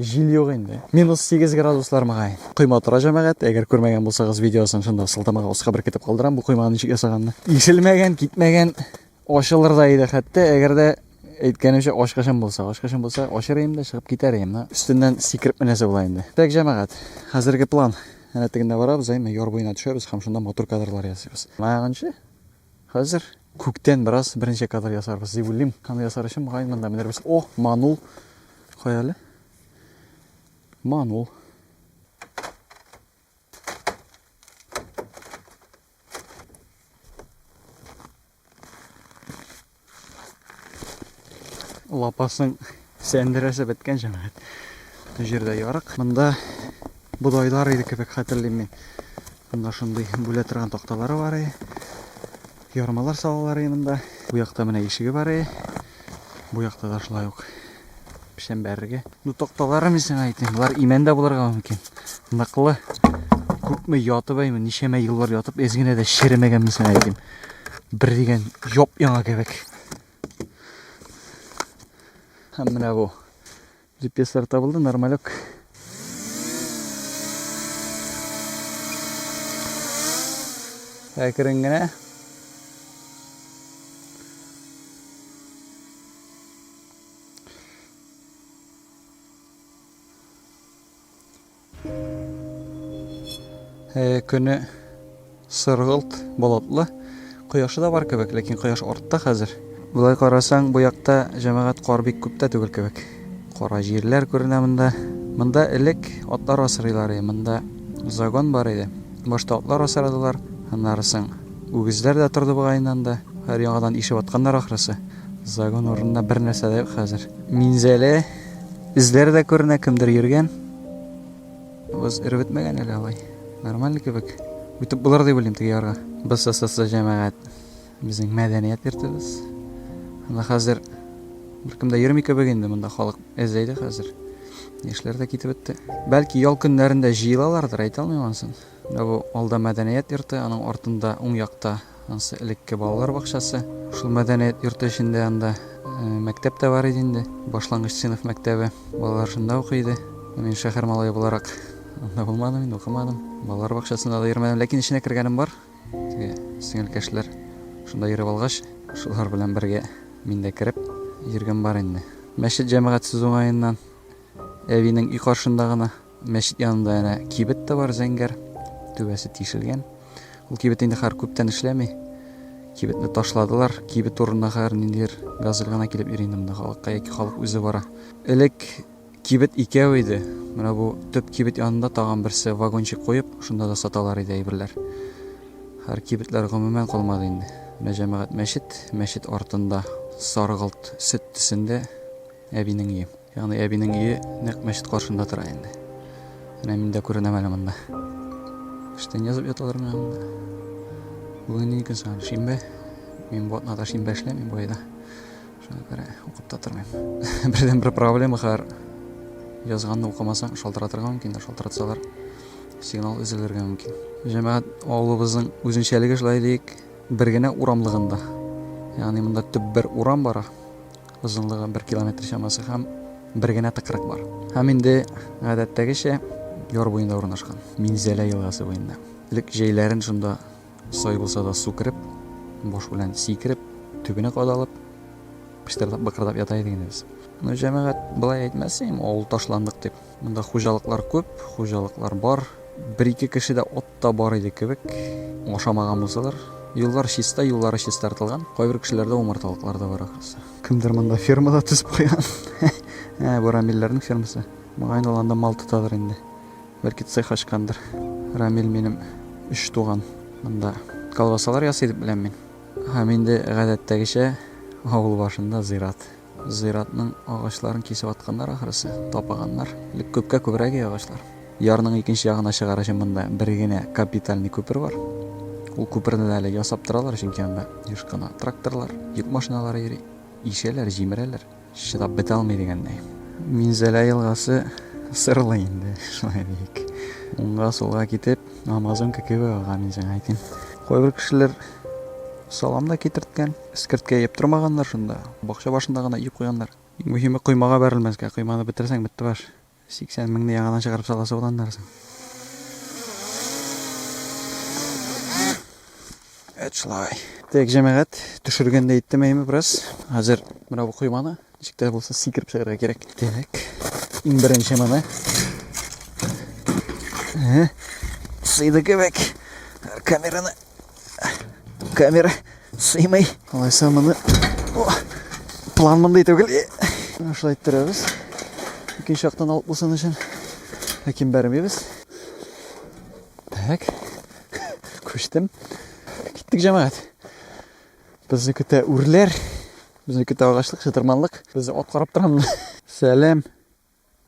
Җил юк инде. Минус 8 градуслар мөгаен. Койма тора җәмәгать. Әгәр күрмәгән булсагыз видеосын шунда сылтамага аска беркетеп калдырам бу койманы ничек ясаганны. Ишелмәгән, китмәгән, ачылыр да иде хәтта, әгәр дә әйткәнемчә ачкычым булса, ачкычым булса ачыр идем дә чыгып китәр идем. Менә өстеннән сикереп менәсе була инде. Так җәмәгать, хәзерге план. Әнә тегендә барабыз, әйме яр буена төшәбез һәм шунда матур кадрлар ясыйбыз. Мынаганчы Хәзер күктән бераз берничә кадр ясарбыз дип уйлыйм. Аны ясар өчен мөгаен монда менербез. О, манул. Кая әле? Манул. Лапасың сәндерәсе беткән җәмәгать. Бу җирдә ярык. Монда бодайлар иде кебек хәтерлим мин. Монда шундый бүлә торган такталары бар иде. Ярмалар салалар иде монда. Бу якта менә ишеге бар иде. Бу якта да шулай ук. Пешәм бәрергә. Ну токталары мен сиңа әйтим. Болар имән дә булырга мөмкин. Ныклы. Күпме ятып әйме, ничәмә еллар ятып, эз генә дә черемәгән мен сиңа әйтим. Бер дигән яп яңа кебек. Һәм менә бу. Лепеслар табылды, нормалек. Әкрен генә Э, көне сыргылт болотлы кояшы да бар кебек ләкин кояш артта хәзер былай карасаң бу якта җәмәгать кар бик күп тә түгел кебек кара җирләр күренә монда монда элек атлар асрыйлар иде монда загон бар иде башта атлар асрадылар аннары соң үгезләр дә торды бугай инде анда һәр яңадан ишеп атканнар ахрысы Загон урынында бер нәрсә дә юк хәзер. Минзәлә эзләре дә күренә, кемдер йөргән. Боз эреп бетмәгән әле алай. Нормаль кебек. Үтеп булыр дип уйлыйм теге ярга. БССС җәмәгать. Безнең мәдәният йортыбыз. Анда хәзер беркем дә йөрми кебек инде, монда халык әзәй дә хәзер. Яшьләр дә китеп бетте. Бәлки ял көннәрендә җыелалардыр, әйтә алмыйм анысын. Менә бу алда мәдәният йорты, аның артында уң якта Ансы элекке балалар бакчасы. Шул мәдәният йорты эчендә анда мәктәп тә бар иде инде, башлангыч сыйныф мәктәбе. Балалар шунда укый иде. Мин шәһәр малае буларак анда булмадым инде, укымадым. Балалар бакчасына да йөрмәдем, ләкин эченә кергәнем бар. Теге сеңелкәшләр шунда йөреп алгач, шулар белән бергә мин дә кереп йөргән бар инде. Мәчет җәмәгатьсез уңаеннан әбинең өй каршында гына Мәчет янында әнә кибет тә бар, зәңгәр. Түбәсе тишелгән. Ул кибет инде хәзер күптән эшләми. Кибетне ташладылар. Кибет урынына хәзер ниндидер газель гына килеп йөри инде монда халыкка яки халык үзе бара. Элек кибет икәү иде. Менә бу төп кибет янында тагын берсе вагончик куеп, шунда да саталар иде әйберләр. Хәзер кибетләр гомумән калмады инде. Менә җәмәгать мәчет, мәчет артында саргылт сөт төсендә әбинең өе. Ягъни әбинең өе нәкъ мәчет каршында тора инде. Менә мин дә күренәм әле монда. Эштән язып яталар менә монда. Бүген ни көн соң? Шимбә. Мин бу атнада шимбә эшләмим бу айда. Шуңа күрә укып та тормыйм. Бердән бер проблема хәр язганны укымасаң шалтыратырга мөмкин дә шалтыратсалар сигнал өзелергә мөмкин җәмәгать авылыбызның үзенчәлеге шулай дик бер генә урамлыгында ягъни монда төп бер урам бара Озынлыгы бер километр чамасы һәм бер генә тыкрык бар. Һәм инде гадәттәгечә яр буенда урнашкан. Минзәлә елгасы буенда. Элек җәйләрен шунда сай булса да су кереп, баш белән сикереп, төбенә кадалып, пыштырдап быкырдап ята идек инде без. Ну, җәмәгать былай әйтмәс инде, авыл ташландык дип. Монда хуҗалыклар күп, хуҗалыклар бар. Бер-ике кеше дә от та бар иде кебек, ашамаган булсалар. Юллар чиста, юллары чистартылган. Кайбер кешеләрдә умарталыклар да бар ахрысы. Кемдер монда фермада төзеп куйган. Ә, бу Рамилләрнең фермасы. Моңа инде анда мал тотадыр инде. Бәлки цех ачкандыр. Рамил минем өч туган. Монда колбасалар ясый дип беләм мин. Һәм инде гадәттәгечә авыл башында зират. Зиратның агачларын кисеп атканнар ахрысы, тапаганнар. Элек күпкә күбрәк иде агачлар. Ярның икенче ягына чыгар өчен монда бер генә капитальный күпер бар. Ул күперне дә әле ясап торалар, чөнки анда еш кына тракторлар, йөк машиналары йөри. Ишәләр, җимерәләр. Чыдап бетә алмый дигәндәй. Минзәлә елгасы сырлы инде, шулай диик. Уңга-сулга китеп, Амазонка кебек ага, мин сиңа әйтим. Кайбер кешеләр салам да китерткән. Эскерткә иеп тормаганнар шунда, бакча башында гына иеп куйганнар. Иң мөһиме, коймага бәрелмәскә, койманы бетерсәң, бетте баш. 80 меңне яңадан чыгарып саласы була аннарысын. Эт шулай. Так, җәмәгать, төшергәндә иттемәйме бераз. Хәзер менә бу койманы Ничек тә булса сикереп чыгарга кирәк. Димәк, иң беренче моны. Сыйды кебек. Камераны. Камера сыймый. Алайса моны план мондый түгел. Шулай иттерәбез. Икенче яктан алып булсын өчен. Ләкин бәрмибез. Так. Күчтем. Киттек, җәмәгать. Безне көтә үрләр. Безне көтә агачлык, чытырманлык. Безне ат карап торамы? Сәлам.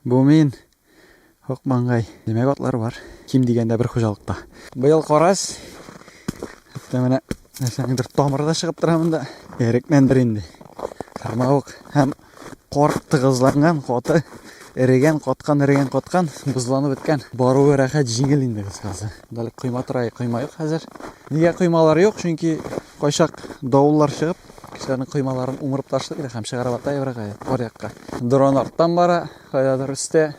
Бу мин. Ак маңгай. Димәк, атлар бар. Ким дигәндә бер хуҗалыкта. Быел карас. Хәтта менә нәрсәнеңдер тамыры да чыгып тора монда. Эрекмәндер инде. Кармавык һәм Кар тыгызланган каты, эрегән, каткан, эрегән, каткан, бозланып беткән. Баруы рәхәт, җиңел инде кыскасы. Дәл койма тора, койма юк хәзер. Нигә коймалар юк? Чөнки кайчак давыллар чыгып, кешеләрнең коймаларын умырып ташлый да һәм чыгарып ата еврага, кар якка. Дрон арттан бара, кайдадыр өстә.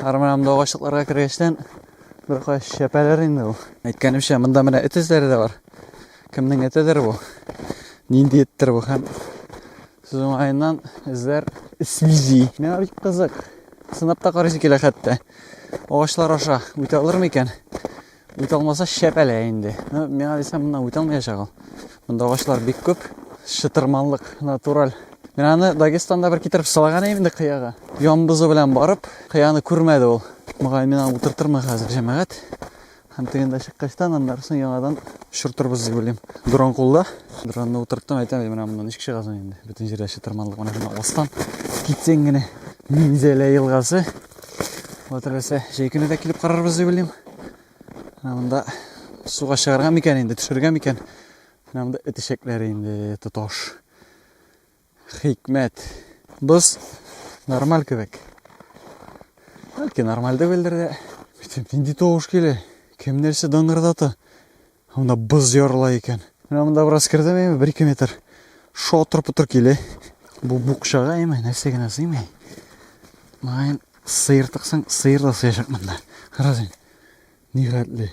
Арманам да агачлыкларга кергәчтән бер кая шәпәләр инде ул. Әйткәнемчә, монда менә эт эзләре дә бар. Кемнең этедер бу? Нинди эттер бу һәм Сез уңаеннан эзләр сүзи. Миңа бик кызык. Сынап та карыйсы килә хәтта. Агачлар аша үтә алыр микән? Үтә алмаса шәпәлә инде. Ну, миңа дисәм, моннан үтә алмаячак ул. Монда агачлар бик күп. Шытырманлык натураль. Мин аны Дагестанда бер китереп салган идем инде кыяга. Ямбызы белән барып, кыяны күрмәде ул. Мөгаен мин аны утыртырмын хәзер, җәмәгать. Һәм тегендә чыккачтан, аннарысын яңадан шортырбыз дип уйлыйм. Дрон кулда. Дронны утырттым, әйтәм, менә моннан ничек чыгасың соң инде. Бөтен җирдә чытырманлык менә шуны астан китсәң генә Минзәлә елгасы. Вот рәсә җәй көне дә килеп карарбыз дип уйлыйм. Менә монда суга чыгарга микән инде, төшергә микән? Менә монда эт ишәкләре инде тоташ. Хикмәт. Боз нормаль кебек. Бәлки нормаль түгелдер дә. Битем нинди тавыш килә? Кем нәрсә дыңгырдата? Монда боз ярыла икән. Менә монда бераз кердем инде, 1-2 метр. Шотыр-путыр килә. Бу букчага әйме, нәрсә генә сыймый. Майн сыйыр тыксаң, сыйыр да сыячак монда. Карасен. Нигатьле.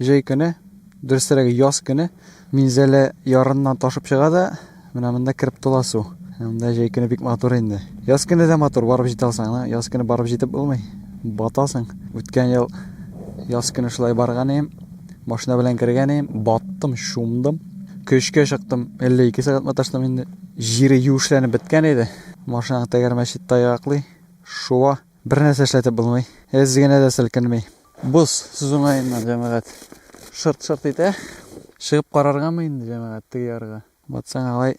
Җәй көне, дөресрәге яз көне Минзәлә ярыннан ташып чыга да, менә монда кереп тула су. Монда җәй көне бик матур инде. Яз көне дә матур, барып җитә алсаң, яз көне барып җитеп булмый. Батасың. Үткән ел яз көне шулай барган идем. Машина белән кергән идем, баттым, чумдым. Көчкә чыктым, 52 сәгать маташтым инде. Җире юешләнеп беткән иде. Машинаң тәгәрмәче таяклый, шуа. Бер нәрсә эшләтеп булмый. Эз генә дә селкенми. Боз сүз уңаеннан, җәмәгать, шырт-шырт итә. Чыгып караргамы инде, җәмәгать, теге ярга? Батсаң алай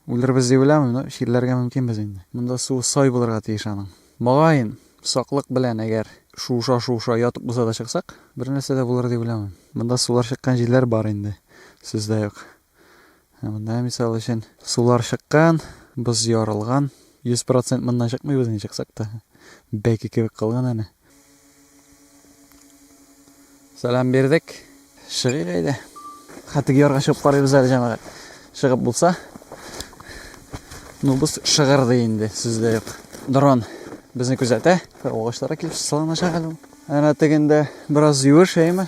үлербез дип уйламыйм, но чирләргә мөмкинбез инде. Монда суы сай булырга тиеш аның. Мөгаен, саклык белән, әгәр шуыша-шуыша ятып булса да чыксак, бернәрсә дә булыр дип уйламыйм. Монда сулар чыккан җирләр бар инде, сүз дә юк. Ә монда, мисал өчен, сулар чыккан, боз ярылган. 100% моннан чыкмыйбыз ни чыксак та. Бәке кебек калган әнә. Сәлам бирдек. Чыгыйк әйдә. Хәтик ярга чыгып карыйбыз әле җәмәгать. Чыгып булса. Ну без шыгырды инде, сүз дә юк. Дрон безне күзәтә. Агачларга килеп салыначак әле. Әнә тегендә бераз юеш әйме?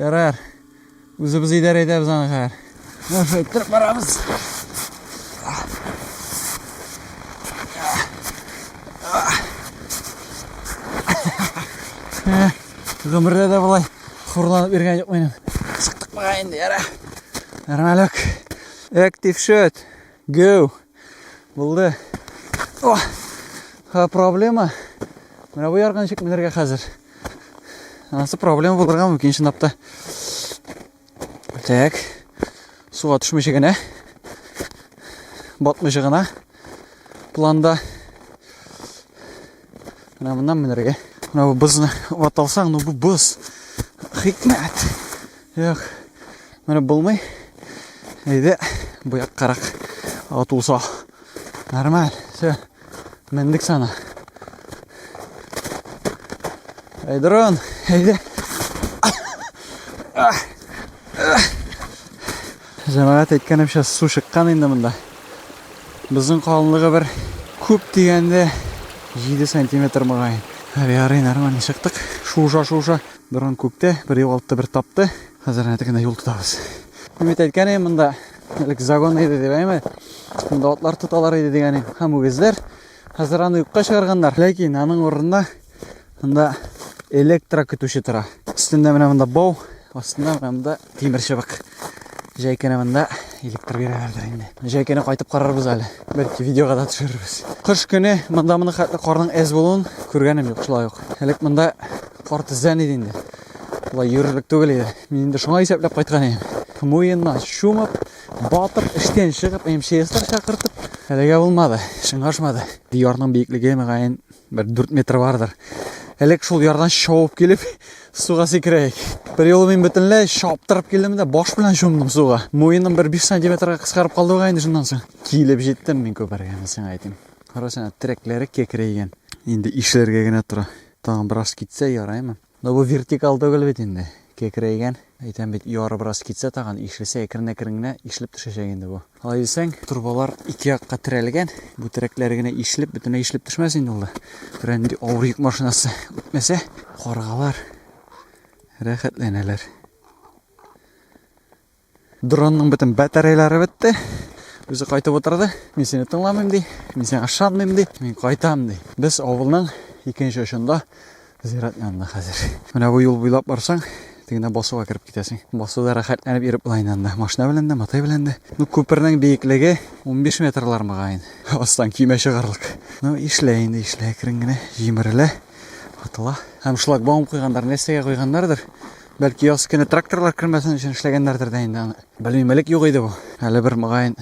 Ярар. Үзебез идарә итәбез аны хәзер. Нәрсә иттереп барабыз? Гомердә дә болай хурланып йөргән юк минем. Чыктык мага инде, яра. Нормалек. Active shot. Go. Булды. О! Ха, проблема. Менә бу ярга ничек менергә хәзер? Анасы проблема булырга мөмкин чынлап та. Так. Суга төшмичә генә. Батмыйча гына. Планда. Менә моннан менергә. Менә бу бозны ваталсаң, ну бу боз. Хикмәт. Юк, менеп булмый. Әйдә, бу яккарак атылса. Нормаль, все. Мендек сана. Әй, дрон, әйдә. Җәмәгать әйткәнемчә су чыккан инде монда. Безнең калынлыгы бер күп дигәндә 7 сантиметр мөгаен. Әле ярый нормально чыктык. Шуша-шуша Буран күктә, бер югалтты, бер тапты. Хәзер әнә тегендә юл тотабыз. Мин бит әйткән идем, монда элек загон иде дип, әйме? Монда атлар тоталар иде дигән идем. Һәм үгезләр. Хәзер аны юкка чыгарганнар. Ләкин аның урынында монда электро көтүче тора. Өстендә менә монда бау, астында менә монда Тимер чыбык. Җәйкене монда илектер бирәләрдер инде. Җәйкене кайтып карарбыз әле. Бәлки видеога да төшерербез. Кыш көне монда моны хәтле карның әз булуын күргәнем юк, шулай ук. Элек монда кар тезлән иде инде. Болай йөрерлек түгел иде. Мин инде шуңа исәпләп кайткан идем. Муеннан чумып, батып, эштән чыгып, МЧСлар чакыртып, әлегә булмады, шыңашмады. Диярның биеклеге мөгаен Бер дүрт метр бардыр. Элек шул ярдан шауып килеп, суга сикерәйек. Бер юлы мин бөтенләй шаптырып килдем дә баш белән чумдым суга. Муеным бер 5 сантиметрга кыскарып калды бугай инде шуннан соң. Килеп җиттем мин күпергә, мен сиңа әйтим. Карасана, терәкләре кекрәйгән. Инде ишелергә генә тора. Тагын бераз китсә яраймы? Ну бу вертикаль түгел бит инде, кекрәйгән. Әйтәм бит, яры бераз китсә тагын, ишелсә, әкрен-әкрен генә ишелеп төшәчәк инде бу. Алай дисәң, торбалар ике якка терәлгән, бу терәкләре генә ишелеп, бөтенләй ишелеп төшмәс инде ул да. Берәр нинди авыр йөк машинасы үтмәсә, каргалар рәхәтләнәләр. Дронның бөтен батареяләре бетте. Үзе кайтып отырды. Мин сине тыңламыйм ди. Мин сиңа ышанмыйм ди. Мин кайтам ди. Без авылның икенче очында зират янында хәзер. Менә бу юл буйлап барсаң, тегенә басуга кереп китәсең. Басуда рәхәтләнеп йөреп була инде анда. Машина белән дә, матай белән дә. Ну, күпернең биеклеге 15 метрлар мөгаен. Астан кимә чыгарлык. Ну, ишлә инде, ишлә, әкрен генә җимерелә, атыла. Һәм шлагбаум куйгандар, нәрсәгә куйганнардыр. Бәлки яз көне тракторлар кермәсен өчен эшләгәннәрдер дә инде аны. Белмим, элек юк иде бу. Әле бер мөгаен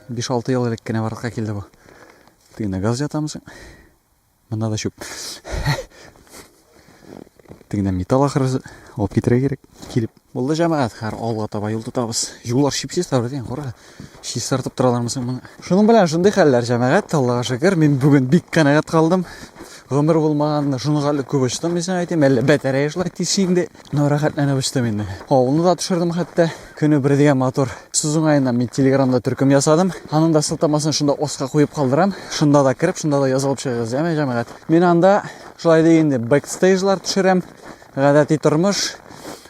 5-6 ел элек кенә барлыкка килде бу. Тегенә газ ятамсың. Монда да чүп. Тегенә металл ахырысы алып китерә кирәк. Килеп. Булды җәмәгать, хәр алга таба юл тотабыз. Юллар чипсез табыз, кара. чистартып торалармы соң моны шуның белән шундый хәлләр җәмәгать аллага шөкер мин бүген бик канәгать калдым гомер булмаганны шуны хәле күп очтым дисем әйтим әллә бәтәрәе шулай тиз инде но рәхәтләнеп очтым инде авылны да төшердем хәтта көне бер дигән матур сүз уңаеннан мин телеграмда төркем ясадым аның да сылтамасын шунда остка куеп калдырам шунда да кереп шунда да язылып чыгыгыз яме җәмәгать мин анда шулай дигәндә бэкстейжлар төшерәм гадәти тормыш